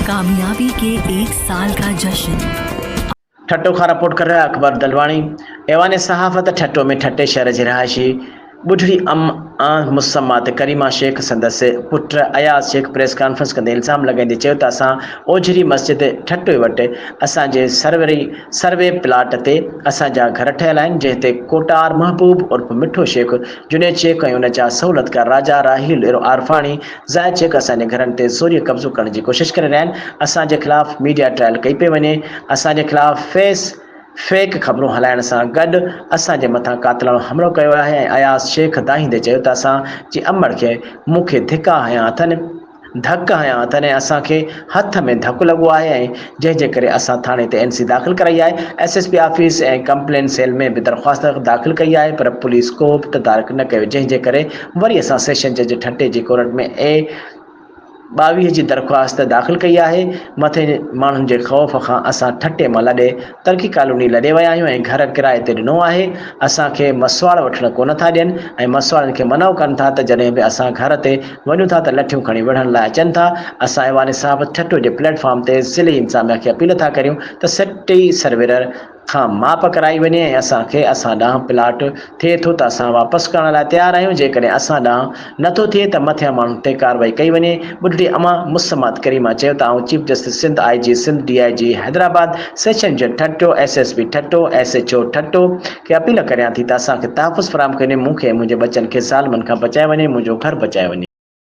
ڪاميابي ڪي ايڪ سال ڪا جشن. ٺٽو کان رپورٽ ڪري رهيا اڪبر دلواڻي ايوان صحافت ٺٽو ۾ ٺٽي شهر جي رهائشي ٻڍڙي ام آن مسمه تي ڪريما شيخ سندس پٽ اياز شيخ پريس ڪانفرنس ڪندي الزام لڳائيندي چيو ته اسان اوجهري مسجد ٺٽوي وٽ اسان جي سروري سروي پلاٽ تي اسان جا گهر ٺهيل آهن، جنهن تي ڪوٽار محبوب عرف مٺو شيخ، جنيد شيخ ۽ ان جا سهولتڪار راجا راحيل عرفاڻي، زاهد شيخ اسان جي گهرن تي زوريء قبضو ڪرڻ جي ڪوشش ڪري رهيا آهن، اسان جي خلاف ميڊيا ٽرائل ڪئي پئي وڃي، اسان جي خلاف فيس فيڪ خبرون هلائڻ سان گڏ اسان جي مٿان قاتلاڻو حملو ڪيو ويو آهي ۽ اياز شيخ دانهيندي چيو ته اسان جي امڙ کي مون کي ڌڪا هنيا اٿن، ڌڪ هنيا اٿن ۽ اسان کي هٿ ۾ ڌڪ لڳو آهي ۽ جنهن جي ڪري اسان ٿاڻي تي اين سي داخل ڪرائي آهي، S S P office ۽ complaint cell ۾ به درخواست داخل ڪئي آهي پر پوليس ڪوبه تدارڪ نه ڪيو جنهن جي ڪري وري اسان سيشن جج ٺٽي جي ڪورٽ ۾ اي ٻاويهه جي درخواست داخل ڪئي آهي مٿين ماڻهن جي خوف کان اسان ٺٽي مان لڏي ترڪي ڪالوني لڏي ويا آهيون ۽ گهر ڪرائي تي ڏنو آهي، اسان کي مسواڙ وٺڻ ڪونه ٿا ڏين ۽ مسواڙن کي منع ڪن ٿا ته جڏهن به اسان گهر تي وڃون ٿا ته لٺيون کڻي وڙهڻ لاء اچن ٿا، اسان ايوان صاحب ٺٽو جي پليٽ فارم تي ضلعي انتظاميا کي اپيل ٿا ڪريون ته سٽي سرويرر کان ماپ ڪرائي وڃي ۽ اسان کي اسان ڏانهن پلاٽ ٿئي ٿو ته اسان واپس ڪرڻ لاء تيار آهيون، جيڪڏهن اسان ڏانهن نه ٿو ٿئي ته مٿيان ماڻهن تي ڪارروائي ڪئي وڃي، ٻڍڙي اما مسمات ڪريما چيو ته آئون chief justice Sindh, I G Sindh, D I G Hyderabad, session جج Thatta, S S P Thatta, S H O Thatta کي اپيل ڪريان ٿي ته اسان کي تحفظ فراهم ڪيو وڃي، مون کي ۽ منهنجي ٻچن کي ظالمن کان بچايو وڃي، منهنجو گهر بچايو وڃي.